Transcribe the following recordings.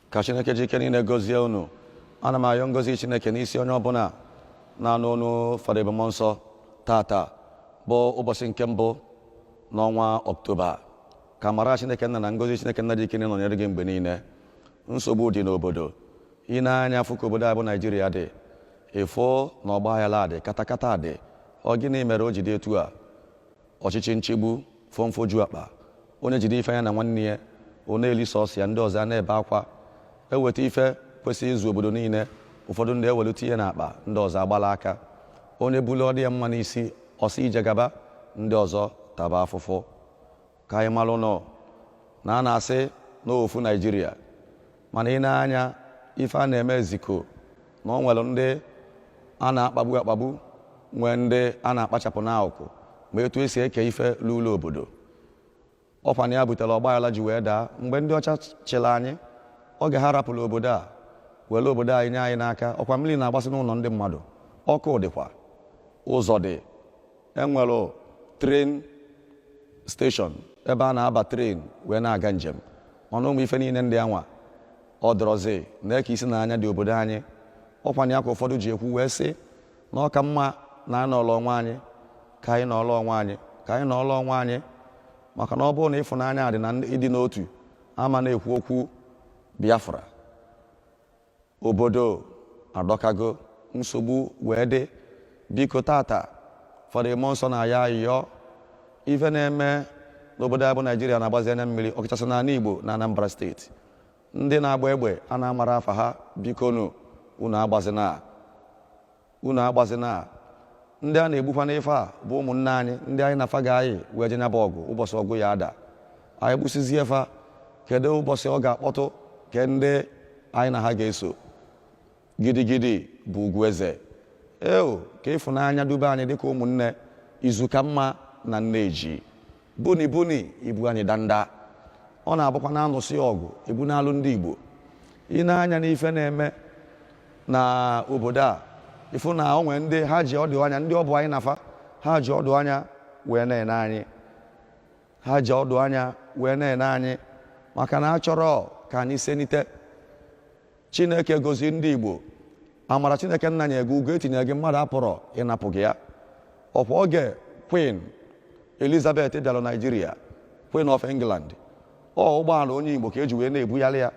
ka chineke ji ike niile gọzie unu ana m ayọ ngozi chineke n'isi onye ọbụla na-anụ onu fada ebube mmụọ nsọ tata bụ ụbọchị nke mbụ n'ọnwa ọktoba ka amara chineke nna na ngozi chineke nna ji ike niile nọnyere gị mgbe niile nsogbu dị n'obodo i nee anya fụ ka obodo anyị bụ naijiria dị ị fụ na ọgba aghara dị katakata dị ọ gịnị mere o ji dị etu a Ọchịchị nchigbu, fọmfọju akpa, onye jide ife ya na nwanne ya, ọ na-eli sọọsọ ya, ndị ọzọ a na-ebe akwa. E weta ife kwesịrị izu obodo niile, ụfọdụ ndị ewelu tinye n'akpa, ndị ọzọ agbala aka. Onye bulu ọ dị ya mma n'isi, ọ sị ije gaba, ndị ọzọ taba afụfụ. Ka anyị malụnụ na a na-asị na ofu Naịjirịa. mana i nee anya ife a na-eme eziko na o nwere ndị a na-akpagbu akpagbu nwee ndị a na-akpachapụ n'akụkụ ma etu esi eke ife luulu obodo ọkwanụ ya butere ọgbaghara ji wee daa mgbe ndị ọcha chịrị anyị oge ha rapụrụ obodo a were obodo anyị nye anyị n'aka ọkwa mmiri na-agbasị n'ụlọ ndị mmadụ ọkụ dịkwa ụzọ dị enwere tren steshọn ebe a na-aba tren wee na-aga njem mana ụmụ ife niile ndị anwa ọ dọrọzi nke isi n'anya dị obodo anyị ọkwanụ ya ka ụfọdụ ji ekwu wee sị na ọ ka mma na anyị nọọlọ onwe anyị ka anyị nọọlọ onwe anyị ka anyị nọọlọ onwe anyị maka na ọ bụrụ na ịfụnanya dị na ịdị n'otu a ma na-ekwu okwu biafra obodo adọkago nsogbu wee dị biko tata fada ebube mmụọ nsọ na-ayọ ayọ ife na-eme n'obodo a bụ naijiria na-agbazi anya mmiri ọkachasị n'ala igbo na anambra steeti ndị na-agba egbe a na-amarọ afa ha bikonu unu agbazina unu agbazina ndị a na-egbukwa n'ife a bụ ụmụnne anyị ndị anyị na fa ga-eyi wee je nyaba ọgụ ụbọchị ọgụ ya-ada anyị gbụsizie fa kedu ụbọchị ọ ga-akpọtụ ke ndị anyị na ha ga-eso gidigidi bụ ugwu eze ee ka ịfụnanya dube anyị dịka ụmụnne izu ka mma na nne ji buni buni ibu anyị danda ọ na-abụkwa na a nụsịa ọgụ ebu n'alụ ndị Igbo i nee anya n'ife na-eme na obodo a ị fụ na o nwere ndị ha ji ọdụ anya ndị ọ bụ anyị na fa ha ji ọdụ anya wee na-ene anyị ha ji ọdụ anya wee na-ene anyị maka na a chọrọ ka anyị senite chineke gọzi ndị igbo amara chineke nna nye gị ugo etinye gị mmadụ apụrọ ịnapụ gị ya ọkwa oge queen elizabeth bịara naijiria queen of england ọ ụgbọala onye igbo ka eji wee na-ebugharị ya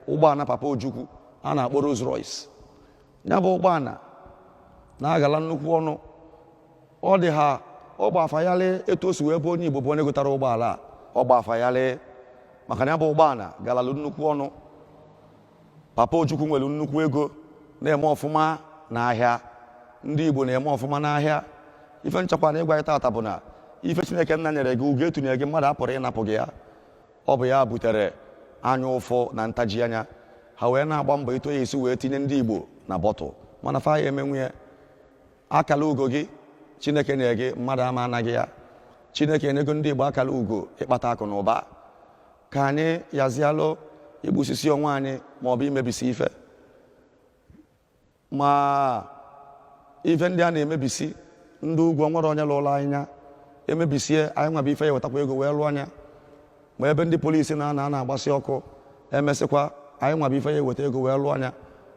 ụgbọala papa ojukwu a na-akpọ Rolls Royce ya bụ ụgbọala na-agala nnukwu ọnụ ọ dị ha ọ gba fa yalị etu o si wee bụ onye igbo bụ onye gotara ụgbọala a ọ gba fa yalị maka na ya bụ ụgbọala galalụ nnukwu ọnụ papa ojukwu nwere nnukwu ego na-eme ọfụma n'ahịa ndị igbo na-eme ọfụma n'ahịa ife m chọkwanụ ịgwa gị tata bụ na ife chineke nna nyere gị ugo etunye gị mmadụ apụrọ ịnapụ gị ya ọ bụ ya butere anya ụfụ na ntaji anya ha wee na-agba mbọ etu a ya-esi wee tinye ndị igbo na bọtụl mana fa ama emenwu ya akala ugo gị chineke nyere gị mmadụ ama ana gị ya chineke enyego ndị igbo akala ugo ịkpata akụ na ụba ka anyị yazialụ igbusisi onwe anyị ma ọ bụ imebisi ife ma ife ndị a na-emebisi ndị ugwu o nwere onye lụrụ anyị ya emebisie anyị nwa bụ ife ya-ewetakwa ego wee lụọ ya ma ebe ndị polisi na-anọ a na-agbasi ọkụ emesịkwa anyị nwa bụ ife ya-eweta ego wee lụọ ya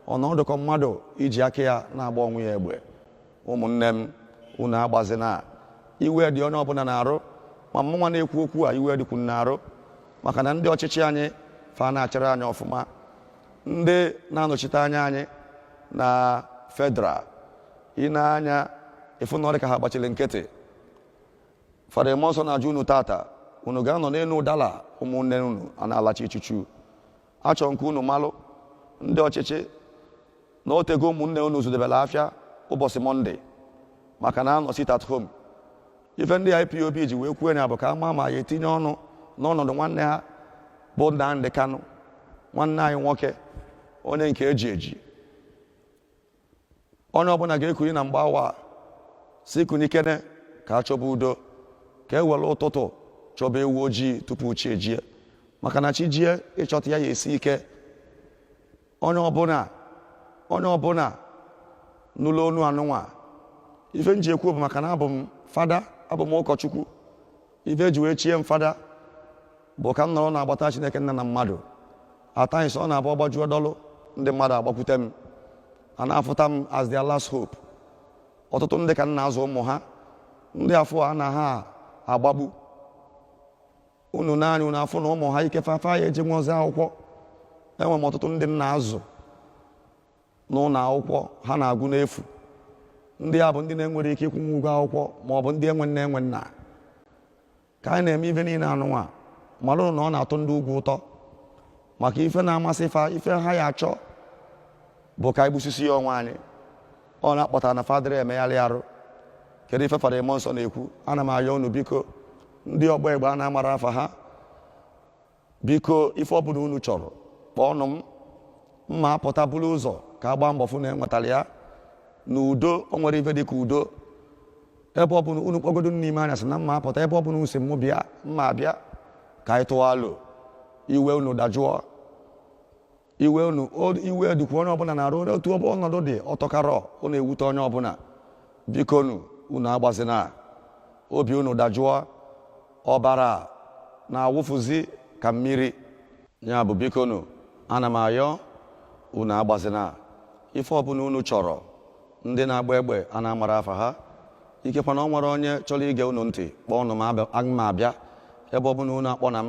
ọ na-adị ka mmadụ iji aka ya na-agba onwe ya egbe ụmụnne m unu agbazina iwe dị onye ọbụla n'arụ ma mụnwa na-ekwu okwu a iwe dịkwu m n'arụ maka na ndị ọchịchị anyị fa na-achịrọ anyị ọfụma ndị na-anọchite anya anyị na federal i nee anya ị fụ na ọ dị ka ha gbachiri nkịtị fada ebube mmụọ nsọ na-ajụ unu tata unu ga-anọ n'elu ụdala ụmụnne unu a na-alacha ichuchu achọ m ka unu malụ ndị ọchịchị na otego ụmụnne unu zụdebelụ afịa ụbọchị mọnde maka na a nọ sit at home ife ndị IPOB ji wee kwuo ya bụ ka a ma ma a ya-etinye ọnụ n'ọnọdụ nwanne ha bụ Nnamdi Kanu nwanne anyị nwoke onye nke eji eji onye ọbụla ga-ekuni na mgbe awa a sị kunikene ka a chọba udo ka e were ụtụtụ chọba ewu ojii tupu chi ejie maka na chi jie ịchọta ya ya-esi ike onye ọbụla onye ọbụla nụlụ onu anụnwa ife m ji ekwu bụ maka na abụ m fada abụ m ụkọchukwu ife eji wee chie m fada bụ ka m nọrọ n'agbata Chineke nna na mmadụ at times ọ na-abụ ọgbajuo dọlụ ndị mmadụ agbakwute m a na-afụta m as their last hope ọtụtụ ndị ka m na-azụ ụmụ ha ndị afụ a na ha agbagbu unu nee anya unu afụ na ụmụ ha ike fafa ya eji nwaozi akwụkwọ enwe m ọtụtụ ndị m na-azụ n'ụlọ akwụkwọ ha na-agụ n'efu ndị a bụ ndị na-enwerọ ike ịkwụnwu ụgwọ akwụkwọ ma ọ bụ ndị enwe nne enwe nna ka anyị na-eme ife niile anụnwa malụ na ọ na-atọ ndị ugwu ụtọ maka ife na-amasị fa ife ha ya achọ bụ ka anyị gbusisia onwe anyị ọ na-akpọta na fa dịrị emegharị arụ kedu ife fada mmụọ nsọ na-ekwu ana m ayọ unu biko ndị ọgba egbe a na-amarọ afa ha biko ife ọ bụla unu chọrọ kpọọnụ m mma apụta buru ụzọ ka a gbaa mbọ fụ na enwetara ya na udo o nwerọ ife dị ka udo ebe ọ bụla unu kpọgodu n'ime anya sị na mma apụta ebe ọ bụla unu si mụ bịa mma abịa ka anyị tụọ alo iwe unu dajụọ iwe unu o- iwe dịkwa onye ọbụla n'arụ otu ọnọdụ dị ọtọkarọ ọ na-ewute onye ọbụla bikonu unu agbazina obi unu dajụọ ọbara na-awụfuzi ka mmiri ya bụ bikonu ana m ayọ unu agbazina ife ọbụla unu chọrọ ndị na-agba egbe a na-amarọ afa ha ikekwa na o nwerọ onye chọrọ ige unu ntị kpọọnụ m aga m abịa ebe ọbụla unu akpọ na m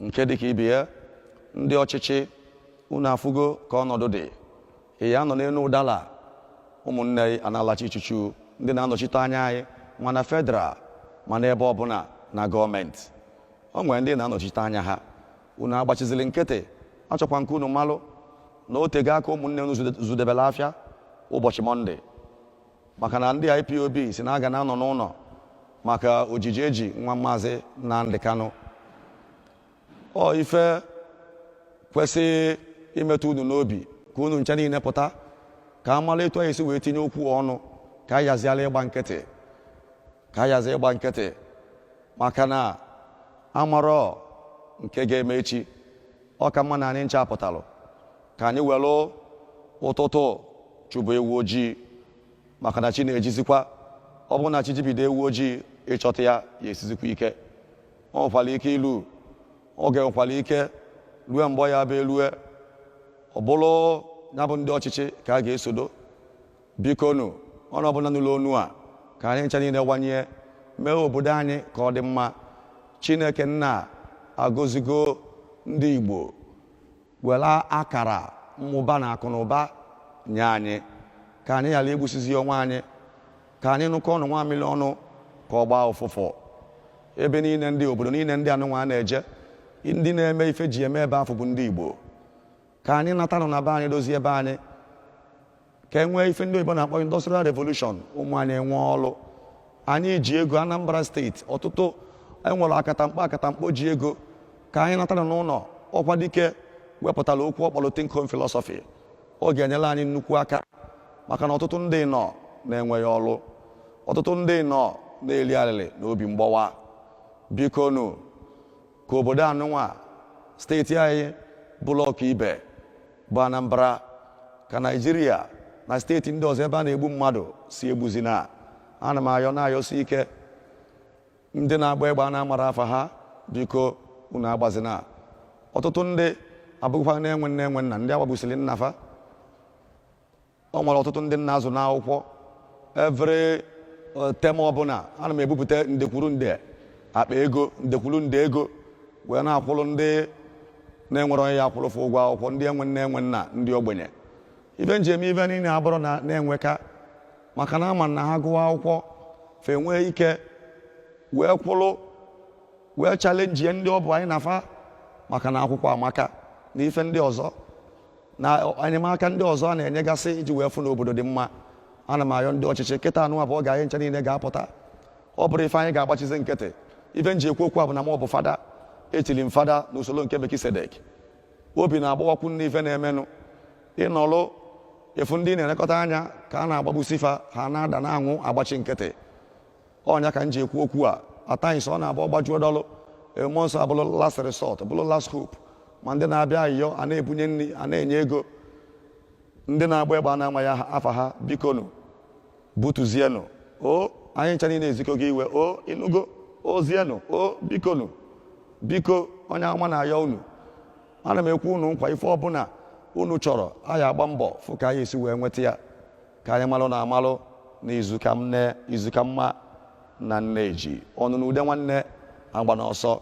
nke dịka ibe ya ndị ọchịchị unu afụgo ka ọnọdụ dị ị ya anọ n'elu ụdala ụmụnne gị ana-alacha ichuchu ndị na-anọchite anya anyị ma na federal ma n'ebe ọbụla na gọọmenti o nwere ndị na-anọchite anya ha unu agbachizili nkịtị achọkwa m ka unu malụ na o tego aka ụmụnne unu zụdebelụ afịa ụbọchị mọnde maka na ndị IPOB sị na a ga na-anọ n'ụlọ maka ojiji e ji nwa maazị Nnamdi Kanu ọ ife kwesịrị imetụ unu n'obi ka unu ncha niile pụta ka a mara etu anyị si wee tinye okwu ọnụ ka a yaziala ịgba nkịtị ka a yazi ịgba nkịtị maka na amarọ nke ga-eme echi ọ ka mma na anyị ncha apụtalụ ka anyị welụ ụtụtụ chọba ewu ojii maka na chi na-ejizikwa ọ bụrụ na chi jibido ewu ojii ịchọta ya ya esizikwa ike o nwekwara ike ilu oge nwekwara ike rue mgbe ọ ya-abụ e lue ọ bụrụ ya bụ ndị ọchịchị ka a ga-esodo bikonu onye ọbụla nụlụ onu a ka anyị ncha niile wanye mee obodo anyị ka ọ dị mma chineke nna agọzigo ndị igbo were akara mmụba na akụ na ụba nye anyị ka anyị ghara igbusizi onwe anyị ka anyị nyụkọọnụ nwamịrị ọnụ ka ọ gbaa ụfụfụ ebe niile ndị obodo niile ndị anụnwa a na-eje ndị na-eme ife ji eme ebe afụ bụ ndị Igbo ka anyị natanụ na be anyị dozie ebe anyị ka e nwee ife ndị oyibo na-akpọ industrial revolution ụmụ anyị enwee ọrụ anyị ji ego anambra steeti ọtụtụ e nwere akatamkpo akatamkpo ji ego ka anyị natara n'ụnọ Okwadike wepụtara okwu ọ kpọlụ think home philosophy ọ ga-enyere anyị nnukwu aka maka na ọtụtụ ndị nọ na-enweghị ọrụ ọtụtụ ndị nọ na-eli alịlị na obi mgbawa bikonu ka obodo anụnwa steeti anyị bụlụ ọka ibe bụ Anambra ka Naijiria na steeti ndị ọzọ ebe a na-egbu mmadụ sị egbuzina ana m ayọ na-ayọsi ike ndị na-agba egbe a na-amarọ afa ha biko unu agbazina ọtụtụ ndị abụgokwanụ enwe nne enwe nna ndị a gbagbusili nna fa o nwere ọtụtụ ndị m na-azụ n'akwụkwọ every term ọbụna ana m ebupụta nde kwuru nde akpa ego nde kwuru nde ego wee na-akwụrụ ndị na-enwerọ onye ya-akwụrụ fa ụgwọ akwụkwọ ndị enwe nne enwe nna ndị ogbenye ife m ji eme ife niile abụrọ na m enweka maka na ama m na ha gụwa akwụkwọ fa enwee ike wee kwụrụ wee chalenji ndị ọ bụ anyị na fa maka na akwụkwọ amaka na ife ndị ọzọ na enyemaka ndị ọzọ a na-enyegasị iji wee fụ na obodo dị mma ana m ayọ ndị ọchịchị kịta anụwa bụ oge anyị ncha niile ga-apụta ọ bụrọ ife anyị ga-agbachizi nkịtị ife m ji ekwu okwu a bụ na mụ bụ fada e chili m fada n'usoro nke Melkisedek obi na-agbawakwu m n'ife na-emenụ ịnọlụ ịfụ ndị ị na-elekọta anya ka a na-agbagbusi fa ha na-ada na-anwụ agbachi nkịtị ọ nya ka m ji ekwu okwu a at times ọ na-abụ ọ gbajuo dọlụ e, mmụọ nsọ abụrụ last resort bụrụ last hope ma ndị na-abịa ayịyọ a na-ebunye nri a na-enye ego ndị na-agba egbe a na-amaghị afa ha bikonu butuzienụ o anyị ncha niile ezikọ gị iwe o ịnụgo ozienụ o bikonu biko onye ama na-ayọ unu ana m ekwe unu nkwa ife ọbụna unu chọrọ anyị agba mbọ fụ ka anyị esi wee nweta ya ka anyị malụ na amalụ na izu ka nne izu ka mma na nneji ọnụlụ ude nwanne agbana ọsọ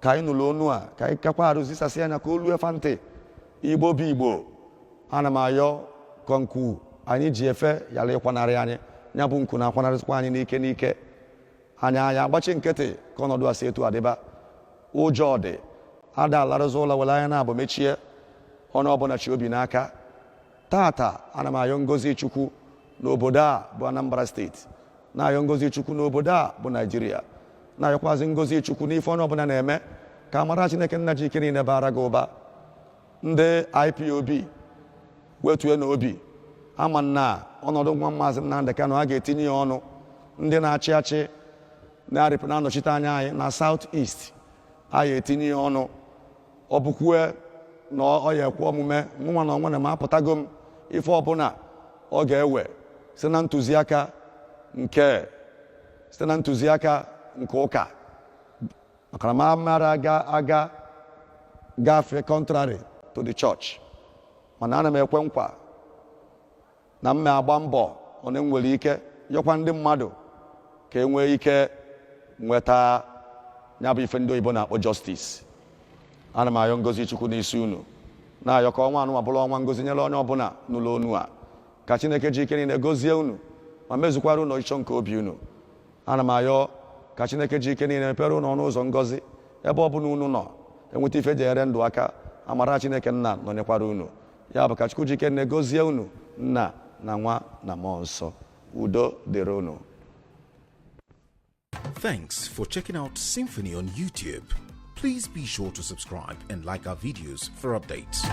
ka anyị nụrụ onu a ka anyị kakwa arụ zisasịa nya ka o lue fa ntị igbo bụ igbo ana m ayọ ka nku anyị ji efe yara ịkwanarị anyị ya bụ nku na-akwanarịsịkwa anyị n'ike n'ike anyị anyị agbachi nkịtị ka ọnọdụ a si etu a dịba ụjọ dị a da-alarụzi ụla were anya naabọ mechie onye ọbụna chị obi n'aka tata ana m ayọ ngozi chukwu n'obodo a bụ anambra steeti na-ayọ ngozi chukwu n'obodo a bụ naijiria na-ayọkwazi ngozi chukwu n'ife onye ọbụna na-eme ka amara chineke nna ji ike niile bara gị ụba ndị ipob wetuenụ obi ama m na ọnọdụ nwa maazị Nnamdị Kanụ a ga-etinye ya ọnụ ndị na-achị achị na-arịpụ na-anọchite anya anyị na South East a ga-etinye ya ọnụ ọ bụkwue na ọ ya ekwe omume mụnwa na onwe na m apụtago m ife ọbụla ọ ga-ewe site na ntụziaka nke site na ntụziaka nke ụka maka na m amara aga gafee contrary to the church mana ana m ekwe nkwa na m na-agba mbọ onye nwere ike yọkwa ndị mmadụ ka e nwee ike nweta ya bụ ife ndị oyibo na-akpọ justice ana m ayọ ngozi chukwu n'isi unu na-ayọ ka ọnwa anụnwa bụrụ ọnwa ngozi nyere onye ọbụla nụlụ onu a ka chineke ji ike niile gozie unu ma mezukwara unu ọchịchọ nke obi unu ana m ayọ ka chineke ji ike niile mepere unu ọnụ ụzọ ngozi ebe ọ bụla unu nọ enweta ife e ji enyere ndụ aka amara chineke nna nọnyekwara unu ya bụ ka Chukwu ji ike niile gozie unu nna na nwa na mmụọ nsọ udo dịrị unu Thanks for checking out Symphony on YouTube. Please be sure to subscribe and like our videos for updates.